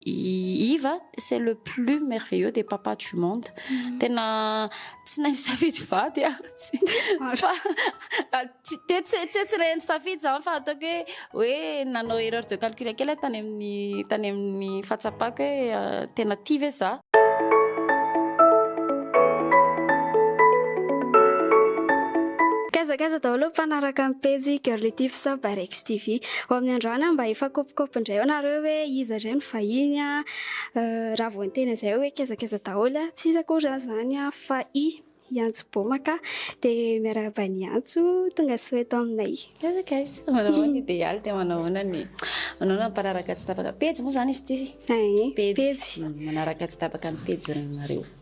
I Iva c'est le plus merveilleux des papas du monde tena tsy nahay nisafidy vady ah fa teo tsy tsy tsy nahay nisafidy zany fa ataoko hoe hoe nanao erreur de calcul kely tany amin'ny tany amin'ny fahatsapako hoe euh, tena tia ve za Kazakaza daholo mpanaraka ny pejy Girly Tips by Rex TV. Ho amin'ny androany aho mba hifakopikopy indray ao nareo hoe iza indray no vahiny a! Raha vao niteny an'izay aho hoe kezakeza daholo a! Tsy iza akory izany izany a! fa i Iantso Boma ka! Dia miarahaba an'i Iantso tonga soa eto aminay. Kezakeza, manao ahoana Idealy dia manao ahoana ny manao na mpanaraka tsy tapaka pejy moa izany izy ity? Pejy manaraka tsy tapaka ny pejinareo.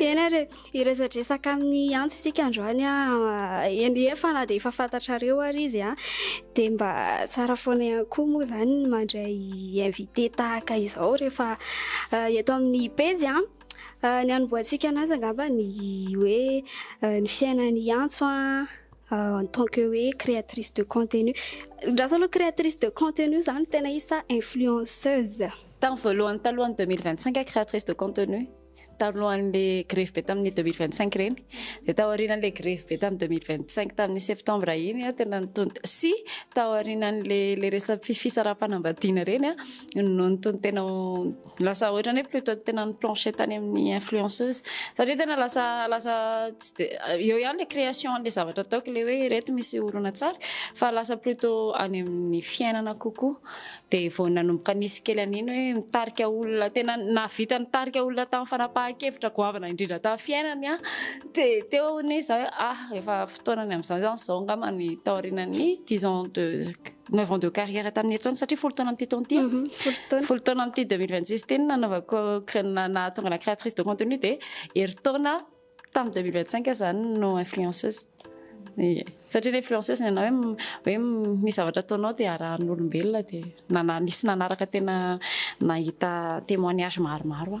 Ena re, hiresadresaka amin'ny antso isika androany ah, eny efa na dia efa fantatrareo ary izy ah, dia mba tsara foana ihany koa moa izany ny mandray invité tahaka izao rehefa ah, eto amin'ny pejy ah. ah ny hanombohantsika anazy angamba ny hoe ah, ny fiainan'ny antso ah, ah, en tant que hoe créatrice de contenu. Andraso aloha créatrice de contenu izany tena izy sa influenceuse? Tamin'ny voalohany talohan'ny deux mille vingt cinq créatrice de contenu, talohan'le grevy be tamin'ny deux mille vingt cinq ireny, dia tao aorianan'le grevy be tamin'ny deux mille vingt cinq tamin'ny septembre iny aho tena nitony sy tao aorianan'le le resam fisaraham-panambadiana ireny aho no nitony tena lasa ohatran'ny hoe plutôt tena ny plancher tany amin'ny influenceuse satria tena lasa lasa tsy de eo ihany le création an'le zavatra ataoko le hoe ireto misy horonan-tsary fa lasa plutôt any amin'ny fiainana kokoa Dia vao nanomboka nisy kely an'iny hoe mitarika olona, tena nahavita nitarika olona tamin'ny fanapahan-kevitra goavana indrindra tamin'ny fiainany aho. Dia teo anie izaho hoe ah, efa fotoana ny amin'izany izany izao angamba ny taorianan'ny dix ans de, neuf ans de carrière tamin'ny heritrano, satria folo taona amin'ity taona ity aho. Folo taona amin'ity deux mille vingt six ity no nanaovako, nahatonga anà créatrice de contenu dia herintaona. Tamin'ny 2025 aza zany no influenceuse. Ie. Satria ilay influenceuse ny anao hoe m- hoe m- misy zavatra ataonao dia arahan'olombelona dia nana- nisy nanaraka tena nahita témoignage maromaro aho.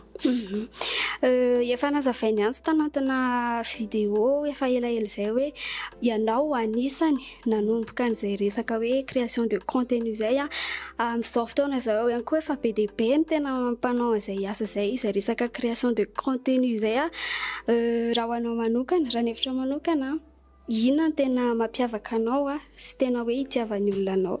Euh, efa nazavain'i Antso tanatina vidéo efa elaela izay hoe ianao anisany. nanomboka an'izay resaka hoe création de contenu izay a, amin'izao fotoana izao ihany koa efa be dia be ny tena mpanao an'izay asa izay, izay resaka création de contenu izay a. Raha ho anao manokana, raha ny hevitro manokana, inona no tena mampiavaka anao sy tena hoe itiavan'ny olona anao?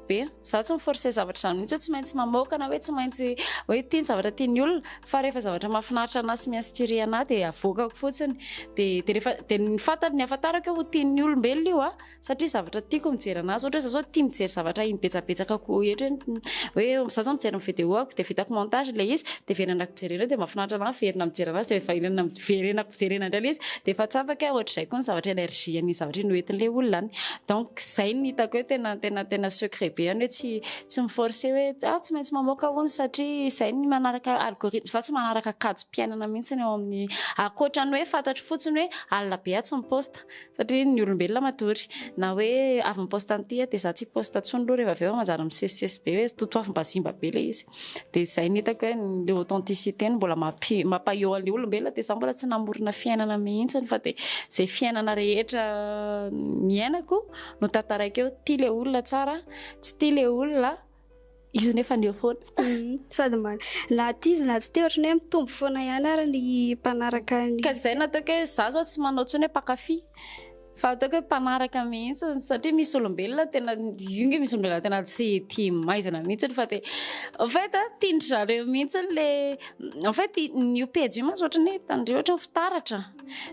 be, izaho tsy mi-forcer zavatra izany mihitsy hoe tsy maintsy mamoaka na hoe tsy maintsy hoe ity ny zavatra tian'ny olona fa rehefa zavatra mahafinaritra anà sy mi-inspirer anà dia avoakako fotsiny dia dia rehefa dia ny fantany ny ahafantarako hoe ho tian'ny olombelona io a satria zavatra tiako mijery an'azy ohatra hoe izaho izao tia mijery zavatra iny betsabetsaka ko ohatra hoe hoe izaho izao mijery ny videoako dia vitako montage ilay izy dia very anako jerena dia mahafinaritra anà miverina mijery an'azy dia efa ilaina verenako jerena indray ilay izy dia efa tsapako hoe ohatr'izay koa ny zavatra energie an'iny zavatra iny hoentin'ilay olona any donc izay ny hitako hoe tena tena tena secret be any hoe tsy tsy miforcer hoe ah tsy maintsy mamoaka hono satria izay ny manaraka algorithme za tsy manaraka kajy mpiainana mihitsy ny ao amin'ny ankoatra ny hoe fantatro fotsiny hoe alina be aho tsy miposta Satria ny olombelona matory. Na hoe avy mi-post an'ity aho dia za tsy hi-post intsony aloha rehefa avy eo manjary misesisesy be hoe totoafim-bazimba be ilay izy. Dia izay no hitako hoe ilay authenticité no mbola mampi- mampahaeo an'ilay olombelona dia za mbola tsy namorona fiainana mihitsy fa dia izay fiainana rehetra niainako no tantaraiko eo. Tia ilay olona tsara, tsy tia ilay olona. Izy nefa ny eo foana. Mhm. Sady mba na aty izy na tsy te ohatran'ny hoe mitombo foana ihany ary ny mpanaraka ny. Ka izay nataoko hoe za zao tsy manao intsony hoe mpankafy fa ataoko hoe mpanaraka mihitsy satria misy olombelona tena io nge misy olombelona tena tsy tia maizina mihitsy fa dia en fait tiandry zareo mihitsy le en fait ny io pejy io mantsy ohatran'ny hoe tandreo ohatran'ny fitaratra.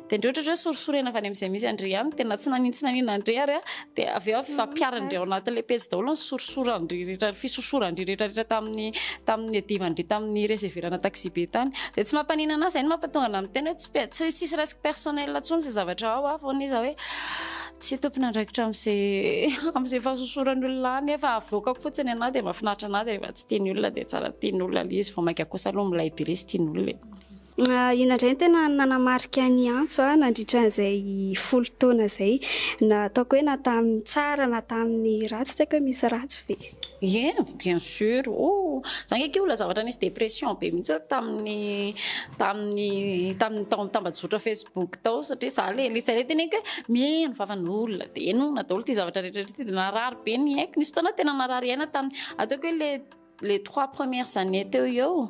Dia indreo ohatrany hoe sorisorena avy any amin'izay misy an-dry ihany, dia na tsy nanintsinanin an-dry ary, dia avy eo ampiharin-dry ao anatin'ilay pejy daholo ny sorisoran-dry rehetra, ny fisosoran-dry rehetra rehetra tamin'ny tamin'ny adivan-dry tamin'ny reseverana taxibe tany. Dia tsy mampaninana ahy izay no mampatonga anahy miteny hoe tsy pe- tsy tsisy resiko personnel intsony izay zavatra ao aho foana izy aho hoe tsy tompon'andraikitra amin'izay amin'izay fahasosoran'ny olona ahy nefa avoakako fotsiny anahy dia mahafinaritra anahy dia rehefa tsy tian'ny olona dia tsara tian'ny olona ilay izy vao mainka kosa aloha milay be ilay izy tian'ny olona e. Inona indray no tena nanamarika an'i Antso nandritra an'izay folo taona izay? Na ataoko hoe na tamin'ny tsara na tamin'ny ratsy, tsy haiko hoe misy ratsy ve? Ie, bien sur, oh! Za nge k'io ilay zavatra nisy dépression be mihitsy aho tamin'ny tamin'ny tamin'ny tao amin'ny tambajotra Facebook tao satria za le le zay teneniko hoe miheno vavan'olona de henona daholo ity zavatra rehetra rehetra ity de narary be ny aiko, nisy fotoana aho tena narary aina tamin'ny ataoko hoe le les trois premières années teo eo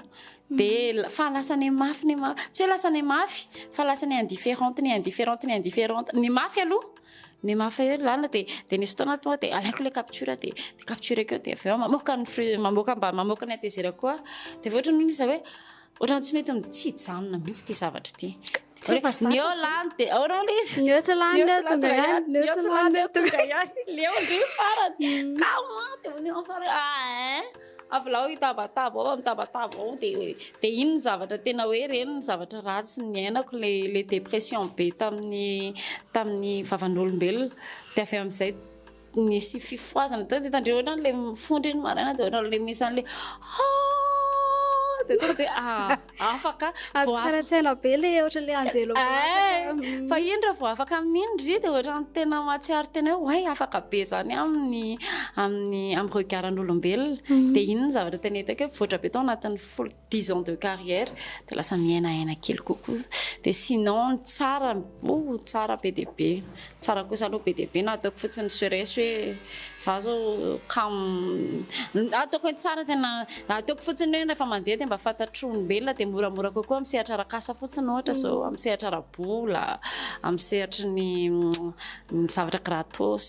de fa lasa ne mafy ne mafy tsy hoe lasa ne mafy fa lasa ne indifférente ne indifférente ne indifférente ny mafy aloha ny mafy eo lalina de de nisy fotoana tonga de alaiko le capture de de captureko eo de avy eo mamoaka ny fruit mamoaka mba mamoaka ny atezerako koa de avy eo ohatran'ny hoe izy hoe ohatran'ny tsy mety ny tsy hijanona mihitsy ity zavatra ity Tsy efa zatra. Neo lany de ao reo le izy. Neo tsy lany neo tonga ihany. Neo tsy lany neo tonga ihany. Leo ndry farany. Mm. Kama de neo farany. Ah hein. Avolao hitabataba ao amitabataba ao de de iny zavatra tena hoe reny ny zavatra ratsy niainako le le dépression be tamin'ny tamin'ny vavan'olombelona. De avy amin'izay Nisy fifohazana teo dia hitandreo ohatran'ny ilay mifondra iny maraina dia ohatran'ny ilay misy an'ilay haa dia tonga dia ah, afaka Azo vao afaka tsaratsara be le ohatran'ilay anjelo Eh, milatsaka. fa iny raha vao afaka amin'iny ry dia ohatran'ny tena mahatsiaro tena hoe way afaka be izany amin'ny amin'ny amin'ny regaran'olombelona dia iny ny zavatra tena hitako hoe mivoatra be tao anatin'ny folo dix ans de carrière de lasa miaina aina kely kokoa de sinon ny tsara oh tsara be dia be tsara kosa aloha be dia be na ataoko fotsiny serais hoe za zao kam ataoko hoe tsara zay na ataoko fotsiny hoe rehefa mandeha dia mba fantatro olombelona dia moramora kokoa amin'ny sehatra rakasa fotsiny ohatra zao mm. amin'ny sehatra rabola amin'ny sehatry ny ny zavatra gratos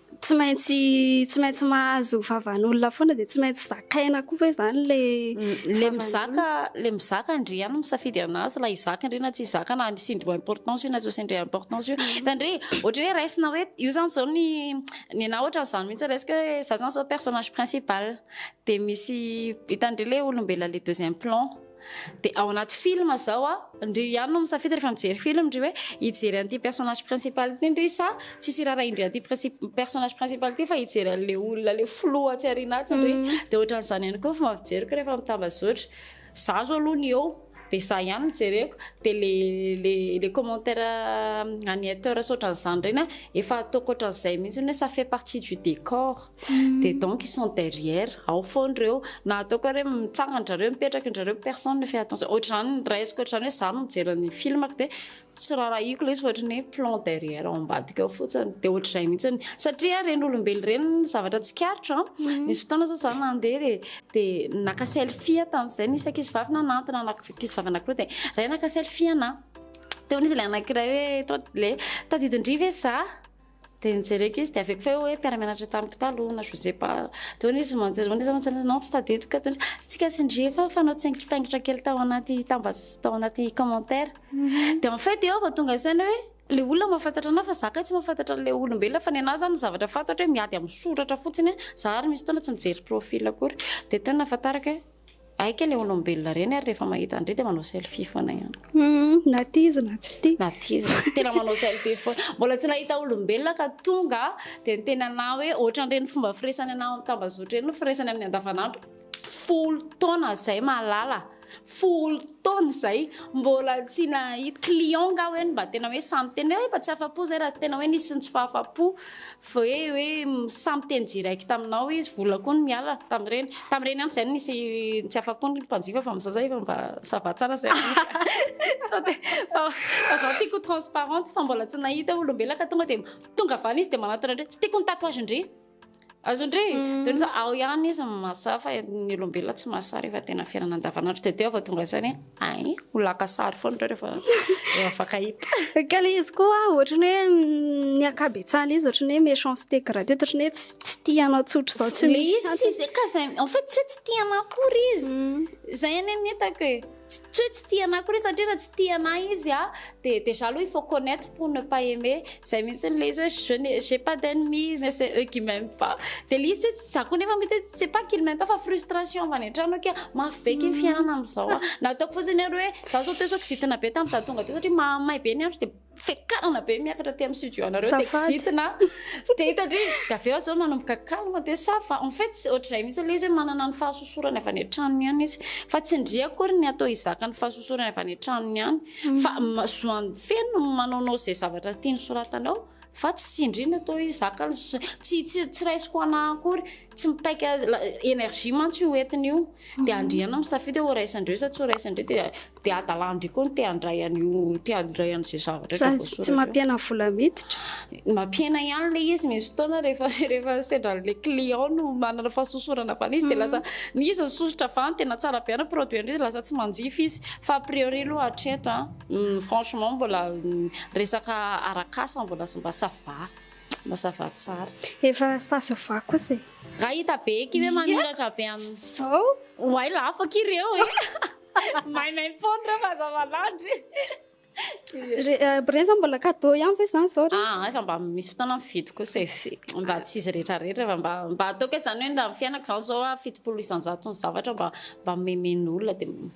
tsy maintsy tsy maintsy mahazo vavan'olona foana dia tsy maintsy zakaina koa ve zany le le mizaka le mizaka ndry ihany misafidy anazy la izaka ndry na tsy izaka na ny sindry importance io na tsy sindry importance io tandrey mm. ohatry hoe raisina hoe io zany zao ny ny na ohatry zany mihitsy resiko hoe za zany zao personnage principal de misy hitandry le olombelona le deuxième plan Dia ao anaty film zao a, ndry ihany no misafidy rehefa mijery film ndry hoe hijery an'ity personnage principal ity ndry sa tsisy irara indry an'ity personnage principal ity fa hijery an'le olona le filoha atsy arina atsy ndry mhm. dia ohatran'izany ihany koa fomba fijeriko rehefa mitambazotra za zao aloha ny eo dia za ihany mijereko dia le le le commentaire euh, an'ny hauteur saotran'izany ireny efa ataoko ohatran'izay mihitsy hoe ça fait partie du décor Dia donc ils sont derrière, ao foana ireo, na ataoko hoe mitsangana drareo, mipetraka drareo, personne ne fait attention, ohatr'izany ny raisiko ohatr'izany hoe izaho no mijery ny filmako dia tsy rarahiko ilay izy fa ohatry ny hoe plan derrière ao ambadika ao fotsiny, dia ohatr'izay mihitsy ny, satria ireny olombelo ireny ny zavatra tsikaritra, mhm. nisy fotoana izao izaho nandeha dia dia naka selfie aho tamin'izay, nisy ankizy vavy nanantona ankizy vavy anankiroa dia iray naka selfie anah, dia hoy izy ilay anankiray hoe le tadidin-dry ve izaho? Dia nijereko izy, dia avy eo koa fa eo hoe mpiara-mianatra tamiko taloha na Josepa. Dia hono izy manjery, hono izy aho manjery, non tsy tadidiko. Dia hono izy, tsika sy ndry efa fanao tsengimpitaingitra kely tao anaty tambas, tao anaty commentaire. Dia en fait eo aho vao tonga saina hoe ilay olona mahafantatra an'ahy fa za kay tsy mahafantatra an'ilay olombelona. Fa ny an'ahy izany ny zavatra fantatro hoe miady amin'ny soratra fotsiny aho. Za ary misy fotoana tsy mijery profil akory. Dia teo no nahafantarako hoe. Aika le olombelona reny ary rehefa mahita andre dia manao selfie foana ihany koa. Hmm, na tia izy na tsy tia. Na tia izy tsy tena manao selfie foana. Mbola tsy nahita olombelona ka tonga dia ny tena na hoe ohatran'ireny fomba firesany anao amin'ny tambazotra ireny no firesany amin'ny andavanandro. Folo taona izay malala. Folo taona izay mbola tsy nahita client nga hoe mba tena hoe samy tena hoe mba tsy afa-po izay raha tena hoe nisy ny tsy fahafa-po Ve hoe samy miteny direct aminao izy, vola koa no miala tamin'ireny. Tamin'ireny ihany izay no nisy tsy afa-po ny mpanjifa fa amin'izao izay efa mba ça va tsara izay misy. Sao dia fa fa izaho tiako ho transparente fa mbola tsy nahita olombelona ka tonga dia tonga avy any izy dia manatona indray tsy tiako ny tatouage-ndry. Azon-dry? Dia ny za ao ihany izy no mahasahy fa ny olombelona tsy mahasahy rehefa tena fiainana andavanandro dia teo aho vao tonga saina hoe. Ay, ho laka sary foana ireo rehefa mifankahita. Ka le izy koa ohatry ny hoe mm, ny ankabetsahana izy ohatry ny hoe méchanceté gratuite ohatry ny hoe tsy tsy tia anao tsotra izao tsy Le izy misy. tsy zay ka zay en fait tsy hoe tsy tia anao akory izy. Mm. Zay anie ny hitako e. Tsy tsy hoe tsy tia anao akory izy satria raha tsy tia anao izy a de déjà aloha il faut connaître pour ne pas aimer. Zay mihitsy le izy hoe je n'ai j'ai pas d'ennemi mais c'est eux qui m'aiment pas. De le izy tsy hoe Za koa nefa mety hoe c'est pas qu'il m'aime pas fa frustration avy any an-trano hoe kay mafy be ity fiainana amin'izao a. Na ataoko fotsiny ary hoe za zao teo zao kizitina be tamin'ny za tonga teo satria mahamay be ny andro dia fiakarana be miakatra aty amin'ny studio anareo dia Safady. kizitina dia hita dry dia avy eo aza manomboka calme dia ça va. En fait ohatr'izay mihitsy ilay izy hoe manana ny fahasosorany avy any an-tranony ihany izy fa tsy ndry akory ny atao hizaka ny fahasosorany avy any an-tranony ihany fa ma- zoany feno ny manaonao izay zavatra tiany soratanao. Fa tsy tsindriana toa io zaka tsy tsy raisiko anah akory, tsy mipaika énergie mantsy io entiny io. Dia mhm. andriana misafidy hoe raisan-dreo sa tsy ho raisan-dreo dia dia hadalan-dreo koa ny te handray an'io te handray an'izay zavatra rehetra voasoratra. Tsy mampiena vola miditra? Mampiena ihany ilay izy misy fotoana rehefa rehefa sendra le client no manana fahasosorana avy izy dia mhm. lasa ny izy ny sosotra avy any tena tsara be any produit any dia lasa tsy manjifa izy fa a priori aloha hatreto an. Franchement mbola resaka arak'asa mbola sy mba ça va mba ça va tsara. Efa ça se voit kosa e. Nga hita be eky ve mamiratra be am. Zao? Oay la afaka ireo e. Maimaim-poana ireo mazava landry. Reza mbola cadeau ihany ve zany zao? Ah, efa mba misy fotoana mividy kosa e. Mba tsy izy rehetra rehetra fa mba mba ataoko hoe zany hoe ndra ny fiainako zany zao a fitopolo isan-jato ny zavatra mba mba memen'olona dia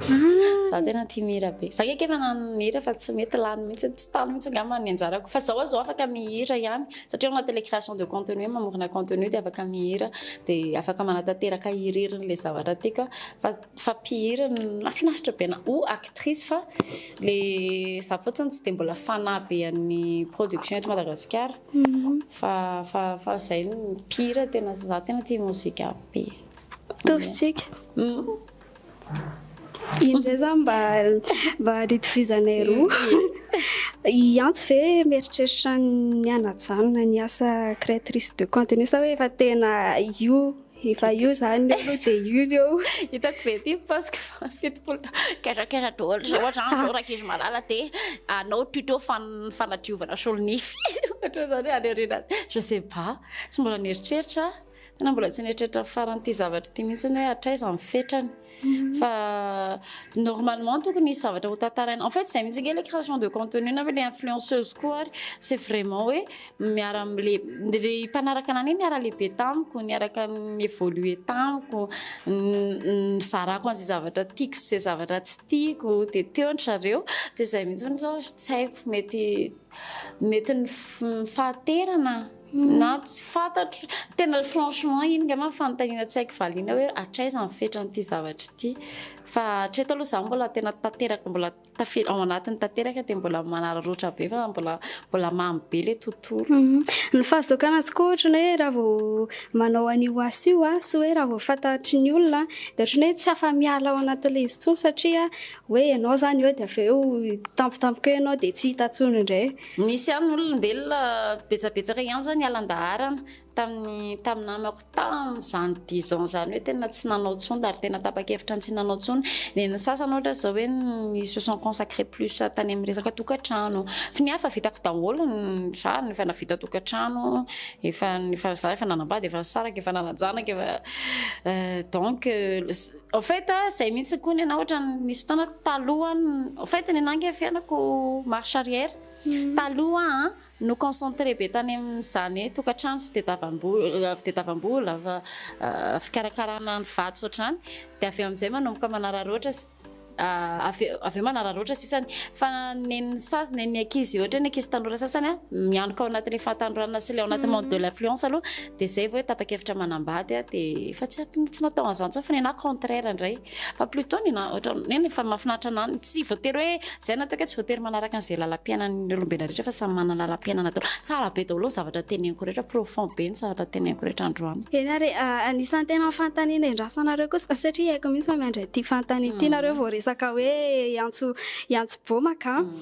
Ah. Za tena tia mihira be. Za kaiky efa nanana mihira fa tsy mety lany mihitsy, tsy tany mihitsy angamba ny anjarako. Fa zao azo afaka mihira ihany satria ao anatin'ilay création de contenu, mamorona contenu dia afaka mihira, dia afaka manatanteraka irery ilay zavatra tiako fa fa mpihira nafinaritra be na ou actrice fa le za fotsiny tsy dia mbola fanahy be an'ny production eto Madagasikara. Mhm. Fa fa fa zay mpihira tena za tena tia mozika be. Tovitsika. Mm. Indray zany mba mba nitovizanay roa. I Antso ve mieritreritra ny hanajanona ny asa créatrice de contenu sa hoe efa tena io efa io zany eo aloha dia io ny eo. Hitako ve ity post-ko fa fitopolo taona kera kera daholo izao ohatra zany zao rankizy malala dia hanao tuto fan- fanadiovana solonify ohatra zany any aoriana any. Je sais pas, tsy mbola nieritreritra. Tena mbola tsy nieritreritra farany ity zavatra ity mihitsy hoe hatraiza ny fetrany. Mhm. Fa normalement tokony hisy zavatra ho tantaraina. En fait izay mihitsy ange le création de contenu na le influenceuse koa ary c'est vraiment hoe miara amle le mpanaraka anany hoe miara lehibe tamiko, niaraka évoluer tamiko, nizarako an'izay zavatra tiako sy izay zavatra tsy tiako de teo ndry zareo de izay mihitsy zao tsy haiko mety mety ny fahaterana Na tsy fantatro, tena franchement iny ngah ma fanontaniana tsy haiko valiana hoe hatraiza ny fetran'ity zavatra ity fa hatreto aloha izaho mbola tena tanteraka mbola tafiditra ao anatiny tanteraka dia mbola manararaotra be fa mbola mbola mamy be ilay tontolo. Mhm. Ny fahazokana azy koa ohatrany hoe raha vao manao an'io asa io a, sy hoe raha vao fantatry ny olona dia ohatrany hoe tsy afa-miala ao anatin'ilay izy intsony satria hoe ianao izany eo dia avy eo tampotampoka eo ianao dia tsy hita intsony indray. Nisy ihany ny olombelona betsabetsaka ihany izao niala an-daharana tamin'ny tamin'ny namako tamin'izany dix ans izany hoe tena tsy nanao intsony ary tena tapa-kevitra ny tsy nanao intsony. Dia ny sasany ohatra izao hoe ils se sont consacrés plus tany amin'ny resaka tokantrano. Fa ny ahy efa vitako daholo ny rariny, efa nahavita tokantrano, efa efa izaho efa nanambady, efa nisaraka, efa nanan-janaka, efa donc. Au fait zay mihitsy koa ny anah ohatrany nisy fotoana talohan au fait ny anah nge fiainako marche arrière taloha an no concentré be tany amin'izany hoe tokantrano fitadiavam-bola fitadiavam-bola fa fikarakarana ny vatsy ohatr'izany dia avy eo amin'izay manomboka manararoatra avy eo avy eo manararoatra sisany fa nen'ny sasany nen'ny ankizy ohatra hoe ny ankizy tanora sasany an mianoka ao anatin'ny fahatanoranana sy ilay ao anaty monde de l'influence aloha Dia izay vao hoe tapa-kevitra manambady aho dia efa tsy tsy natao an'izany intsony fa ny anahy contraire indray fa plutot ny anahy ohatra hoe ny efa mahafinaritra anahy ny tsy voatery hoe izay natao kay tsy voatery manaraka an'izay lalam-piainan'ny olombelona rehetra fa samy manana lalam-piainana daholo tsara be daholo ny zavatra teneniko rehetra profond be ny zavatra teneniko rehetra androany eny ary ah, anisan'ny tena fanontaniana endrasanareo kosa ah, satria haiko mihitsy fa miandry an'ity fanontaniana ity nareo vao resaka hoe hiantso hiantso bomaka ah. mm.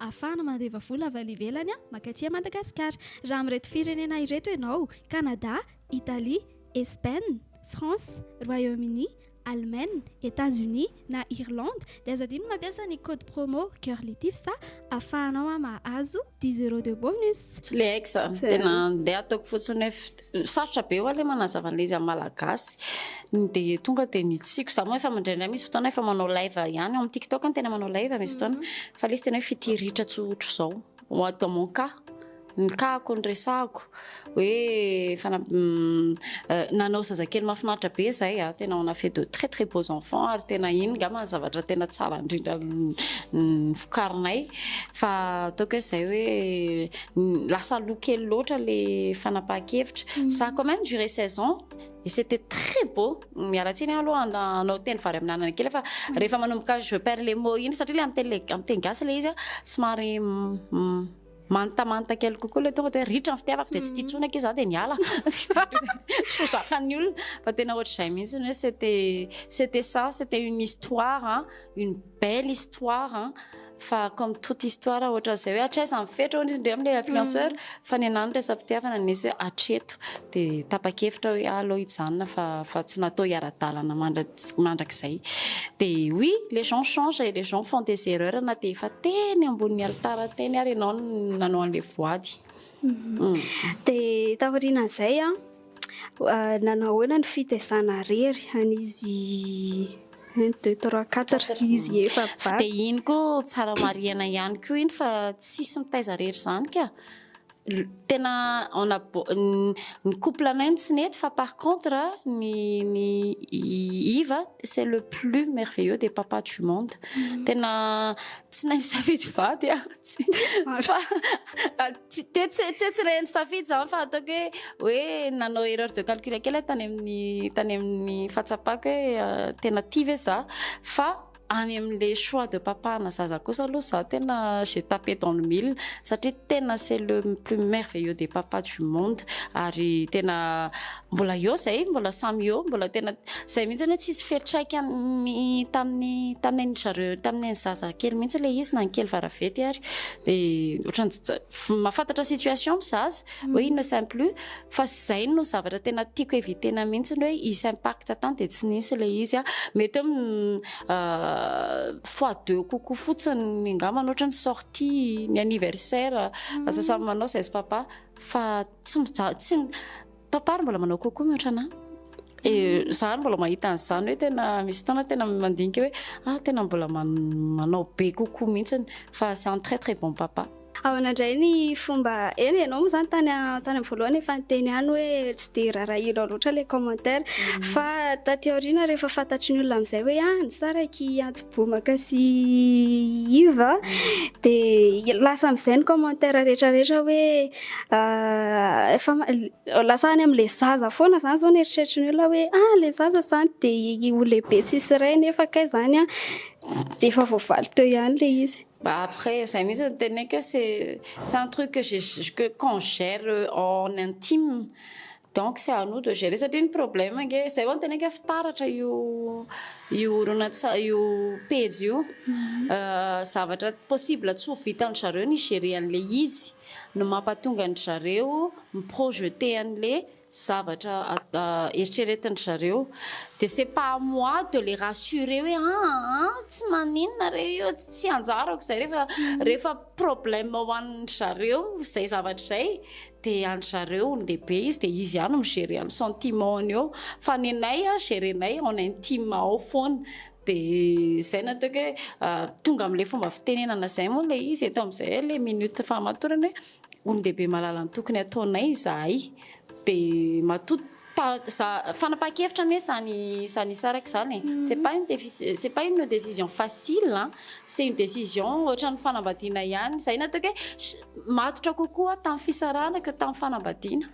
ahafahana mandeva vola avy any ivelany mankaty Madagasikara. Raha amin'ireto firenena ireto ianao, Canada, Italie, Espaine, France, Royaume-Uni, Allemagne, Etats-Unis na Irlande dia aza adino ny mampiasa ny code promo Girlytips ahafahanao mahazo dix euros de bonus. Tsy le aiko izany. Tena dia ataoko fotsiny hoe Sarotra be oa le manazava an'le izy am malagasy de tonga de nitsiako za moa efa indraindray misy fotoana efa manao live ihany ao am tiktok no tena manao live misy fotoana mhm. fa le izy tena hoe fitiritra tsy ohatr'izao dans mon cas ny kako ny resahako hoe fana mm, euh, nanao zazakely mahafinaritra be zay a ah, tena on a fait de très très beaux enfants ary tena iny nga ma zavatra tena tsara indrindra ny fokarinay fa ataoko hoe zay hoe Lasa aloha kely loatra le fanapahan-kevitra. Ça a quand même duré 16 ans et c'était très beau. Miala tsiny aho aloha handa- hanao teny vary amin'anana kely fa rehefa manomboka je perds les mots iny satria le amin'ny teny le- amin'ny teny gasy le izy a somary m- m- mantamanta kely kokoa le tonga de hoe ritra ny fitiavako de tsy tia intsony ange za de niala. Soa zakan'ny olona fa tena ohatr'izay mihitsy hoe c'était c'était ça, c'était une histoire, une Belle histoire an! Fa comme toute histoire ohatran'izay hoe hatraiza ny fetra hono izy ndray amin'ilay influenceur fa ny anah ny resa-pitiavana no nisy hoe hatreto dia tapa-kevitra hoe aleo hijanona fa fa tsy natao hiara-dalana mandra mandrakizay dia oui les gens changent et les gens font des erreurs na dia efa teny ambonin'ny alitara teny ary ianao no nanao an'ilay voady. Dia taorianan'izay an! Nanao ahoana ny fitezana irery an'izy un deux trois quatre izy efa bata. Dia iny koa tsara marihina ihany koa iny fa tsisy mitaiza irery izany ka. Tena on a ny couple anay no tsy nety fa par contre ny ny iva c'est le plus merveilleux des papas du monde. Tena tsy nahay nisafidy vady aho fa. Ah, tsy- te- tsy tsy hoe tsy reny safidy zany fa ataoko hoe hoe nanao erreur de calcul kely aho tany amin'ny tany amin'ny fahatsapako hoe ah, tena tia ve za fa any amin'le choix de papa na zaza kosa aloha za tena j'ai tapé dans le mille satria tena c'est le plus merveilleux des papas du monde ary tena Mbola eo izay, mbola samy eo, mbola tena izay mihitsy hoe tsy hisy fiantraikany tamin'ny tamin'ny an'i zareo tamin'ny an'i zaza kely mihitsy ilay izy na ny kely varavety ary dia ohatran'ny tsy- tsy- mahafantatra situation ny zaza hoe il ne s'aime plus fa izay no zavatra tena tiako eviter-na mihitsy ny hoe hisy impact tany dia tsy nisy ilay izy ah. mety hoe mm, euh, fois deux kokoa fotsiny angamba ohatra ny sortie ny anniversaire lasa samy manao izay sy papa fa Tsy mijaly, tsy mi- Papa ary mbola manao coucou mihoatra anà. E, za ary mbola mahita an'izany hoe tena misy fotoana tena mandinika hoe ah tena mbola man- manao be coucou mihitsiny fa c'est un très très bon papa. Ahoana indray ny fomba, eny ianao moa izany tany a- tany amin'ny voalohany efa niteny ihany hoe tsy dia rarahianao loatra ilay commentaire, fa taty aoriana rehefa fantatry ny olona amin'izay hoe ah nisaraky i Antso Bomaka sy i Iva dia lasa amin'izay ny commentaire rehetra rehetra hoe Efa lasa any amin'ilay zaza foana izany izao ny eritreritry ny olona hoe ah ilay zaza izany dia ho lehibe tsy hisy ray nefa kay izany an dia efa voavaly teo ihany ilay izy. Bah après izay mihitsy no teneniko hoe c'est un truc que j'ai que quand gère en intime. Donc c'est à nous de gérer satria ny problème ange zay vao niteny ange fitaratra io io horonantsary io pejy io zavatra possible tsy ho vitan'ny zareo ny gérer an'le izy no mampatonga an-dry zareo mi-projeter an'le zavatra eritreretin-dry zareo dia c'est pas à moi de les rassurer hoe aa tsy maninona re io tsy anjarako izay rehefa rehefa problème ho an-dry zareo izay zavatra izay te andry zareo olon-dehibe izy dia izy ihany mi-gérer an'ny sentiment-ny eo fa ny anay a gérer-nay en intime ao foana dia izay no ataoko hoe tonga amin'ilay fomba fitenenana izay moa ilay izy eto amin'izay ilay minute fahamatorana hoe olon-dehibe mahalala ny tokony hataonay izahay dia matoa Fanapahan-kevitra anie izany izany hisaraka izany e! C'est pas une décision, c'est pas une décision facile an! C'est une décision ohatran'ny fanambadiana ihany, izay no ataoko hoe matotra kokoa tamin'ny fisarahana que tamin'ny fanambadiana.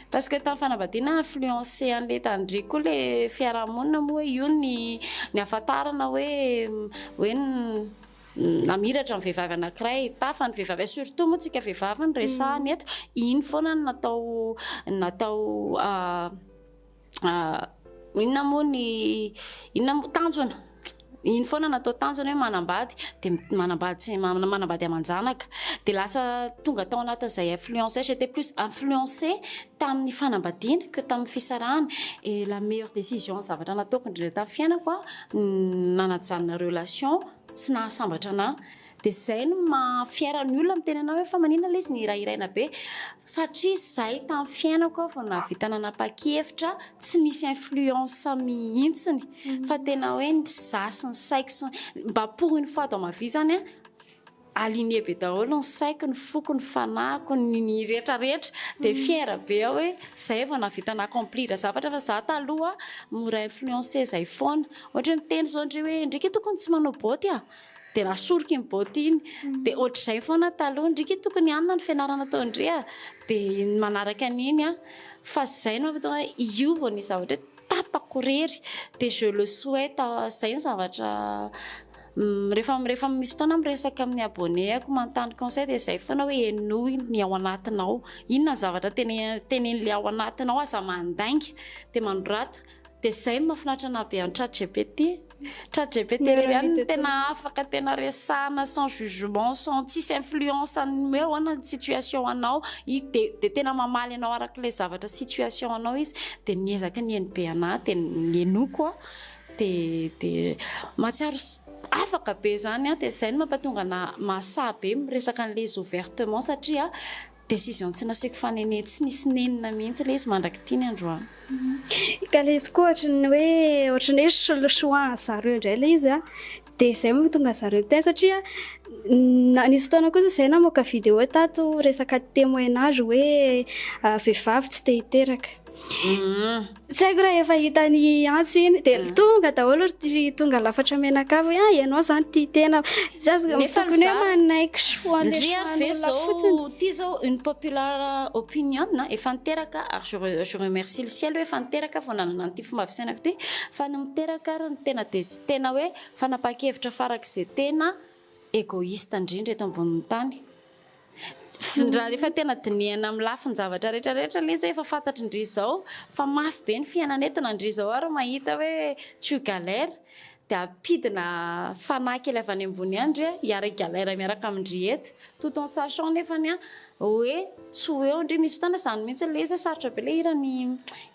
Parce que tamin'ny fanambadiana influencer an'ilay tandriko koa ilay fiaraha-monina moa hoe io ny ny ahafantarana hoe hoe ny. namiratra ny vehivavy anankiray, tafa ny vehivavy iray, surtout moa tsika vehivavy no resahana eto, iny foana no natao natao inona moa ny inona moa tanjona, iny foana natao tanjona hoe manambady dia manambady tsy manambady aman-janaka dia lasa tonga tao anatin'izay influence, j'ai été plus influencée tamin'ny fanambadiana que tamin'ny fisarahana et la meilleure décision zavatra nataoko indrindra tamin'ny fiainako an. nanajanona relation tsy nahasambatra anah de zay no maha fière ny olona miteny anah hoe fa manina le izy nihirahiraina be satria zay tam fiainako aho vao nahavita nanapakevitra tsy nisy influence mihitsiny fa tena hoe ny za sy ny saiko sy mba pour une fois dans ma vie zany an Aligné be daholo ny saiko, ny foko, ny fanahiko, ny rehetra rehetra dia fière be aho hoe zay vao nahavita na accomplir zavatra fa za taloha mora influencer zay foana. Ohatra hoe miteny zao ndry hoe ndry k'y tokony tsy manao boty a! dia nasoriko iny boty iny dia ohatrizay foana taloha ndry k'y tokony anona ny fianarana atao ndry a! dia ny manaraka an'iny a! fa zay no mahatonga ahy hiova ny zavatra hoe tapako irery dia je le souhaite zay ny zavatra Rehefa rehefa misy fotoana miresaka amin'ny abonnés-ako manontany conseil dia izay foana hoe henoy ny ao anatinao. Inona ny zavatra tene- tenenin'ilay ao anatinao, aza mandainga dia manorata. Dia izay no mahafinaritra anahy be an'i ChatGPT. ChatGPT Miara irery ihany no mitetera. tena afaka tena resahana sans jugement, sans tsisy influence an'ny hoe ahoana ny situation anao. I- Dia dia tena mamaly anao arak'ilay zavatra situation anao izy. Dia ny ezaka nihaino be anahy dia ny henoiko Dia mahatsiaro afaka be izany an, dia izay no mampatonga ana mahasahy be miresaka an'ilay izy ouvertement satria décision tsy nasiako fanenena, tsy nisy nenina mihitsy ilay izy mandrak'ity ny androany. Ka ilay izy koa ohatran'ny hoe ohatran'ny hoe soloshoa an'zareo indray ilay izy an, Dia izay moa vao tonga zareo teo satria nisy fotoana kosa izay namoaka vidéo tato resaka témoignage hoe vehivavy tsy te hiteraka. Mm. Tsy haiko raha efa hitany antso iny dia mm. tonga daholo ry tonga lafatra menakavy hoe ah ianao zany tia tena tsy azo tokony hoe manaiky soa le soan'olona fotsiny ity zao une popular opinion efa niteraka ary je remercie le ciel hoe efa niteraka vao nanana fomba fisainako ity fa ny miteraka ary ny tena dia tsy tena hoe fanapahan-kevitra farak'izay tena egoiste indrindra eto ambonin'ny tany raha rehefa tena dinihana amin'ny lafin-javatra rehetra rehetra ilay izy hoe efa fantatry ndry izao fa mafy be ny fiainana eto na ndry izao ary mahita hoe tu galère Dia ampidina fanahy kely avy any ambony any ndry i Harry Galaire miaraka amin-dry eto. Tout en sachant nefany an, hoe tsy ho eo ndry. Misy fotoana izany mihitsy ilay izy hoe sarotra be ilay hiran'i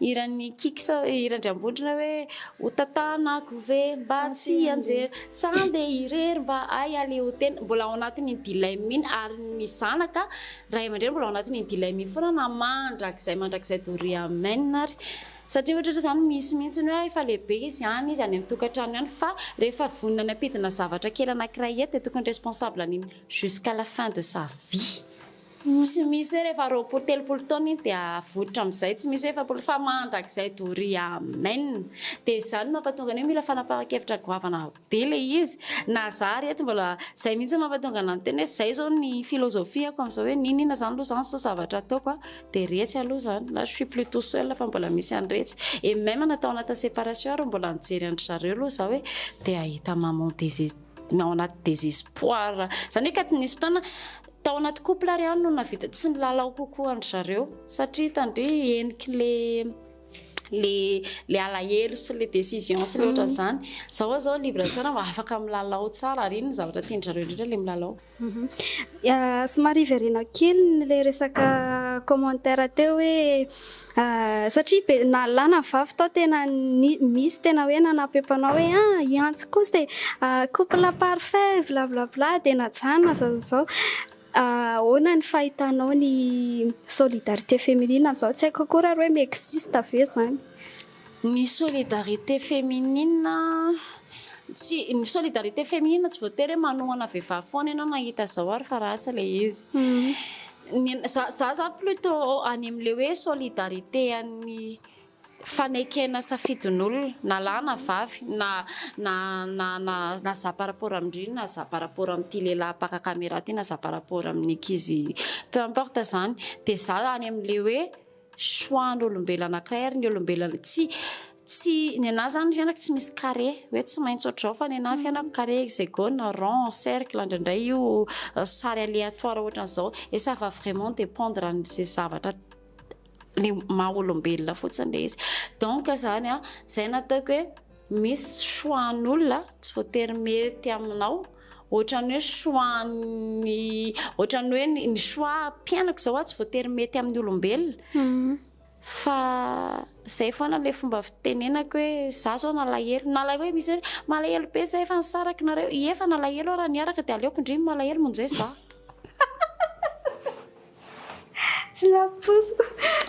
hiran'i Kiky sao hiran-dry Ambondrona hoe ho tantanako ve mba tsy hianjera sa handeha irery mba hay haleotena. Mbola ao anatin'iny dilemme iny ary ny zanaka ray aman-dreny mbola ao anatin'iny dilemme iny foana na mandrakizay mandrakizay doria amen ary. Satria ohatratra zany misy mihitsy ny hoe efa lehibe izy any izy any amin'ny tokantrano ihany fa rehefa vonona ny hampidina zavatra kely anankiray eto dia tokony responsable an'iny jusqu'à la fin de sa vie. Tsy misy hoe rehefa roapolo telopolo taona iny dia avoitra amin'izay, tsy misy hoe efapolo fa mandrakizay doria amen. Dia izany no mampatonga ny hoe mila fanapahan-kevitra goavana. be le izy na za ry reto mbola zay mihitsy mampatonga anah miteny hoe zay zao ny philosophie-ko amin'izao hoe n'inon'inona zany aloha zany zao zavatra ataoko a dia retsy aloha zany là je suis plus tout seul fa mbola misy an'iretsy et même na tao anatin'ny séparation ary mbola nijery an-dry zareo aloha za hoe dia hahita maman désé- na ao anaty désespoir zany hoe ka tsy nisy fotoana tao anaty couple ary aho no nahavita tsy nilalao kokoa an-dry zareo satria hitany ve heniky le le le alahelo sy le décision sy le ohatra mm. zany zao oa zao libre tsara mba afaka milalao tsara ary iny ny zavatra tiany zareo indrindra le milalao mhm. ah, somary verena kely le resaka commentaire teo hoe ah, satria be na lana ny vavy tao tena misy tena hoe nanapempanao hoe ah iantsy kosa ah, couple parfait bla bla bla de najanona zao zao Ahoana ny fahitanao ny solidarité féminine amin'izao? Tsy haiko akory ary hoe mi-existe ve izany? Ny solidarité féminine, tsy, ny solidarité féminine tsy voatery hoe manohana vehivavy foana ianao mahita izao ary fa ratsy ilay izy. Ny anà, izaho izany plutôt any amin'ilay hoe solidarité an'ny fanekena safidin'olona na lahy na vavy na na na na na za par rapport amin-dry na za par rapport amin'ity lehilahy mpaka camera ity na za par rapport amin'ny ankizy peu importe izany dia za any amin'ilay hoe choix-n'olombelona anankiray ary ny olombelona tsy tsy ny anà izany ny fiainako tsy misy carré hoe tsy maintsy ohatr'izao fa ny anà ny fiainako carré hexagone na rond cercle indraindray io sary aléatoire ohatran'izao et ça va vraiment dépendre an'izay zavatra ny maha olombelona fotsiny ilay izy. Donc izany an, izay no ataoko hoe misy choix an'olona tsy voatery mety aminao, ohatran'ny hoe choix ny ohatran'ny hoe ny choix mpiainako izao tsy voatery mety amin'ny olombelona mhm. fa izay foana ilay fomba fitenenako hoe za zao nalahelo nalahelo hoe misy hoe malahelo be zay efa nisaraka nareo efa nalahelo raha niaraka dia aleoko ndrimo malahelo monjay za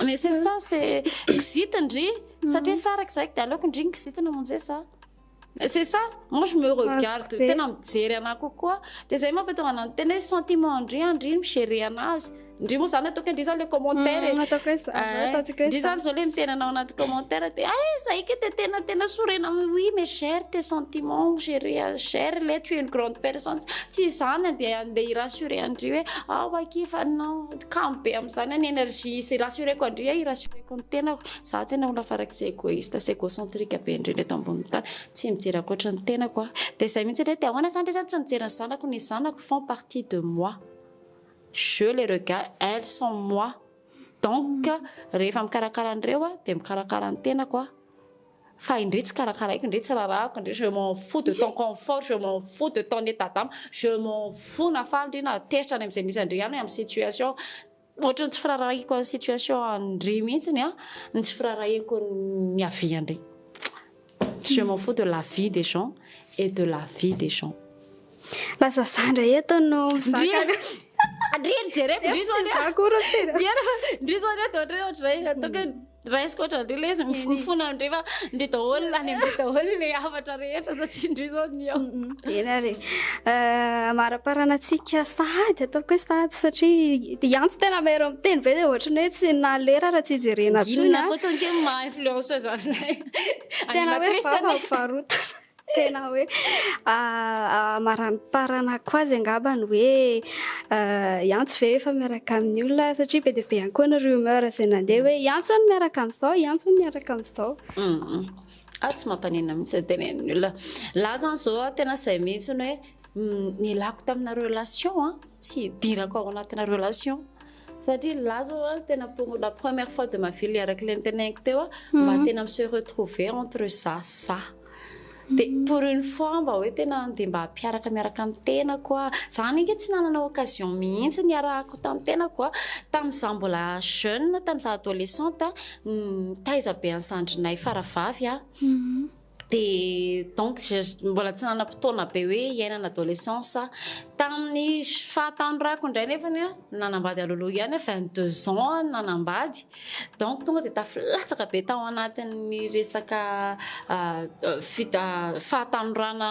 Message sa se kizitina ndry satria sa araka izay dia aleoko ndry ny kizitina monje sa c'est ça moi je me regarde tena mijery anah kokoa dia izay mampitonga anah miteny hoe sentiment ndry an ndry mi-gérer anazy ndry moa izany ataoko hoe ndry izany ilay commentaire e ataoko hoe za ataontsika hoe za ndry izany izao ilay miteny anao anaty commentaire dia ay za ika dia tena tena sorena amin'ny oui mais gère tes sentiments gère gère ilay tu es une grande personne tsy izany an dia Dia hi-rassurer an-dry hoe, ao akia fa anao kamo be amin'izany ny energie sy hi-rassurer-ko an-dry aho, hi-rassurer-ko ny tenako. Izaho tena olona farak'izay égoïste sy égocentrique be indrindra eto ambonin'ny tany. Tsy mijery ankoatra ny tenako aho. Dia izay mihitsy indray hoe, dia ahoana izany re izany tsy mijery ny zanako? Ny zanako font partie de moi. Je les regarde, elles sont moi. Donc, rehefa mikarakara an'ireo aho, dia mikarakara ny tenako aho. Fa indrey tsy karakaraiko, indrey tsy raharahako, indrey je m'en fous de ton confort, je m'en fous de ton état d'âme, je m'en fous na faly ndry na teritra any amin'izay misy an-dry ihany amin'ny situation Ohatran'ny tsy firaharahiako an'ny situation an-dry mihitsy ny ahy, ny tsy firaharahiako ny avis an-dry. Je m'en fous de la vie des gens et de la vie des gens. Lasa za ndray eto no mizaka. Ndry jereko ndry zao ndry. Za koa ry tena. Ndry zao ndry ohatran'ny hoe ohatr'izay. Raisiko ohatran'ireo ilay izy mifonofono amin'ireo fa ndry daholo lany amin'ireo daholo ilay hafatra rehetra satria ndry izao ny ao. Eny ary. Eh, Amaraparana antsika sahady ataoko hoe sahady satria dia antso tena mahery miteny be dia ohatran'ny hoe tsy nalera raha tsy jerena intsony. Gilona ah. fotsiny kely maha influenceuse anay. Tena hoe Animatrice vava anay. varotana. Tena hoe amaramparanako azy angaba ny hoe iantso ve efa miaraka amin'ny olona satria be dia be ihany koa ny rumeur izay nandeha hoe iantso ny miaraka amin'izao, iantso ny miaraka amin'izao. Ah tsy mampanena mihitsy ny tenenin'ny olona. Lahy zany izao tena izay mihitsy ny hoe nilako tamina relation a, tsy hidirako ao anatina relation. Satria ny lahy zao tena pour la première fois de ma vie araka ilay noteneniko teo mba tena mi se retrouver entre za sy za. Dia pour une fois mba hoe tena andeha mba hampiaraka miaraka amin'ny tenako aho. Izaho ange tsy nanana occasion mihitsy niarahako tamin'ny tenako tamin'izaho mbola jeune, tamin'izaho adolescente, nitaiza be an'i zandrinay faravavy aho. Dia donc mbola tsy nanam-potoana be hoe hiaina ny adolescence aho. Tamin'ny fahatanorako indray nefany nanambady alohaloha ihany aho, vingt deux ans aho no nanambady. Donc tonga dia tafilatsaka be tao anatin'ny resaka fahatanorana,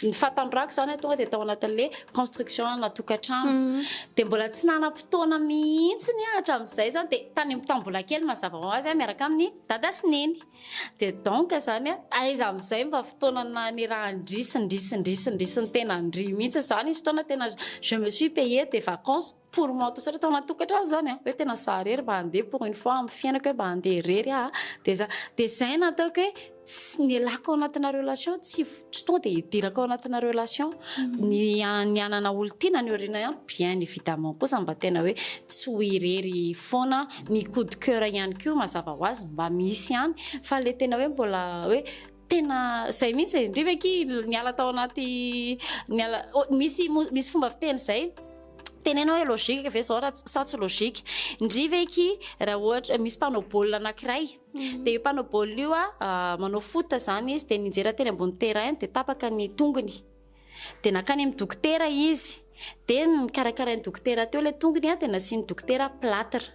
ny fahatanorako izany tonga dia tao anatin'ilay construction ana tokantrano. Mhm. Dia mbola tsy nanam-potoana mihitsy ny ahy hatramin'izay izany dia tany amin'ny tambola kely mazava ho azy miaraka amin'ny dada sy neny. Dia donc izany aiza amin'izay mba fotoana nanirahan-dry sy ndry sy ndry sy ndry sy ny tena ndry mihitsy izany. Nisy fotoana tena je me suis payée des vacances pour moi tout seul tao anaty tokantrano zany a hoe tena za irery mba handeha pour une fois amin'ny fiainako hoe mba handeha irery aho dia za dia izay no ataoko hoe tsy ny elako ao anatina relation tsy tsy tonga dia hidirako ao anatina relation mm. ny ny hanana olon-tiana ny aoriana ihany bien évidemment kosa mba tena hoe tsy ho irery foana ny coup de cœur ihany koa mazava ho azy mba misy ihany fa le tena hoe mbola hoe Tena zay mihitsy e, ndry ve ki niala tao anaty niala oh, misy misy fomba fiteny zay tenena hoe logique ve zao raha sa tsy logique ndry ve ki raha ohatra misy mpanao baolina anankiray mm. dia io mpanao baolina io a ah, manao foot zany izy dia ninjera teny ambony terrain dia tapaka ny tongony dia nakany amin'ny dokotera izy dia ny karakarain'ny dokotera teo ilay tongony a dia nasian'ny dokotera platre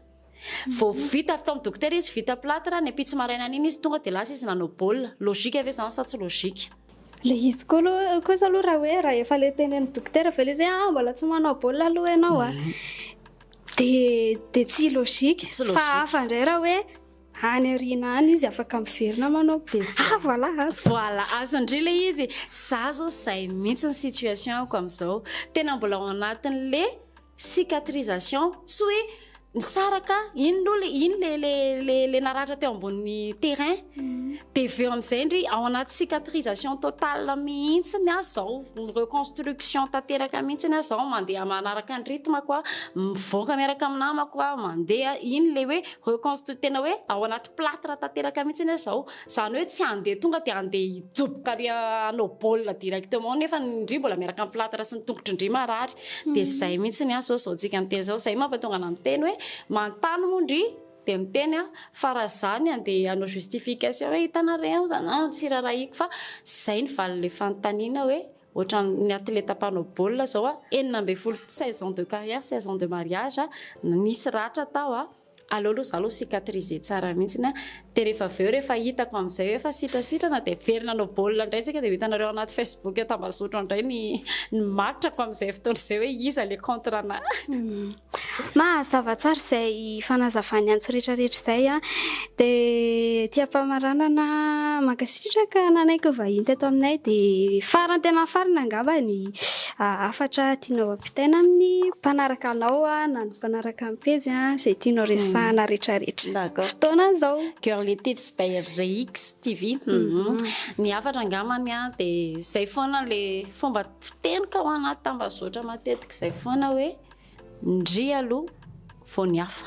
Vao vita avy tao amin'ny dokotera izy, vita plâtre, ny ampitso marainany iny izy tonga dia lasa izy nanao baolina. Logika ve izany sa tsy logika? Ilay izy koa aloha, kosa aloha raha hoe raha efa ilay teny an'ny dokotera ve ilay izy hoe ah mbola tsy manao baolina aloha ianao a, dia dia tsy logika. Tsy logika. Fa hafa indray raha hoe any aoriana any izy afaka miverina manao Dia izay. ah voilà azy. Voilà, azon-dry ilay izy. Izaho izao izay mihitsy ny situation-ko amin'izao. Tena mbola ao anatin'ilay. Cicatrisation tsy hoe nisaraka iny lo le iny le le le le naratra teo ambony terrain de veo amizay ndry ao anaty cicatrisation totale mihitsiny aza zao reconstruction tanteraka mihitsiny aza zao mandeha manaraka ny rythme ko mivoaka miaraka amin'ny namako aho mandeha iny le hoe reconstru tena hoe ao anaty platre tanteraka mihitsiny aza zao Izany hoe tsy handeha tonga dia handeha hijoboka ary hanao baolina directement nefa ny ndry mbola miaraka amin'ny plâtre sy ny tongotry ndry marary. Dia izay mihitsy ny azy zao izao tsika miteny izao. Izay mampatonga anà miteny hoe manontany moa ndry dia miteny aho fa raha izaho ny handeha hanao justification hoe hitanareo aho izany an tsy rarahiko fa izay ny valin'ilay fanontaniana hoe ohatran'ny atleta mpanao baolina izao aho enina ambin'ny folo saison de carrière, saison de mariage, nisy ratra tao aho. Aleo aloha izaho aloha cicatriser tsara mihitsiny an! Dia rehefa avy eo, rehefa hitako amin'izay hoe efa sitrasitrana dia very nanao baolina indray isika dia ho hitanareo anaty Facebook eo Tambazotran indray ny ny matrako amin'izay fotoana izay hoe iza ilay contre anahy. Mahazava tsara izay fanazavany antsy rehetra rehetra izay an! Dia aty am-pamaranana mankasitraka nanaiky ho vahiny teto aminay dia farany tena farany angamba ny hafatra tianao ampiana. Mitaina amin'ny mpanaraka anao na ny mpanaraka ny pejy izay tianao resahana rehetra rehetra. Fotoana izao. Girly Tips by Rix TV. Ny hafatra angambany dia izay foana ilay fomba fiteny ka ao anaty tambazotra matetika izay foana hoe ndry aloha vao ny hafa.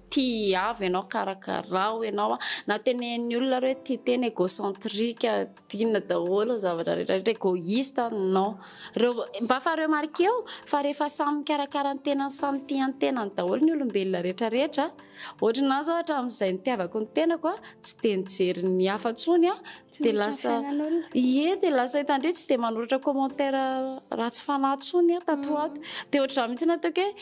Tiavo ianao, karakarao ianao a. Na tenenin'ny olona ary hoe tia tena égocentrique, tiana daholo ny zavatra rehetra rehetra, égoïste a, non. Reo, mba fa remarquer-o fa rehefa samy mikarakara ny tenany, samy tia ny tenany daholo ny olombelona rehetra rehetra. Ohatra ny anahy zao hatramin'izay nitiavako ny tenako a, tsy dia nijery ny hafa intsony aho, Tsy dia miditra lasa, fiainan'olona. ie, dia lasa hitandria tsy dia manoratra commentaire ratsy fanahy intsony aho tato ho ato. Dia ohatr'izany mihitsy nataoko hoe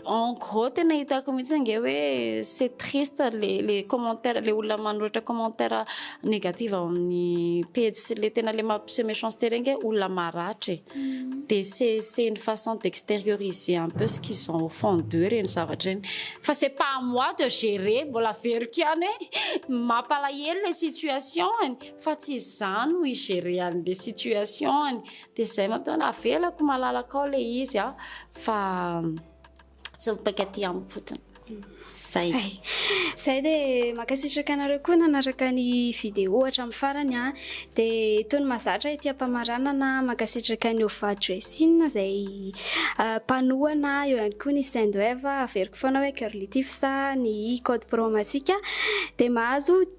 En gros tena hitako mihitsy ange hoe c'est triste le le commentaire le olona manoratra commentaire négative ao amin'ny page sy le tena le mampiseho méchanceté regny hoe olona maratra e. Mm. De c'est c'est une façon d'extérioriser un peu ce qu'ils ont au fond d'eux reny zavatra reny. Fa c'est pas à moi de gérer, mbola averiko ihany hoe mampalahelo le situation-ny fa tsy izaho no hi-gérer an'le situation-ny. Dia zay matoa avelako malalaka ao le izy a fa tsy mipaika aty amiko fotsiny. Zay. Zay dia mankasitraka anareo koa nanaraka ny vidéo hatramin'ny farany a. Dia itony mazatra ity ampamaranana mankasitraka ny Ova Dressing izay mpanohana eo ihany koa ny Sendwave averiko foana hoe Girly Tips ny code promo antsika dia mahazo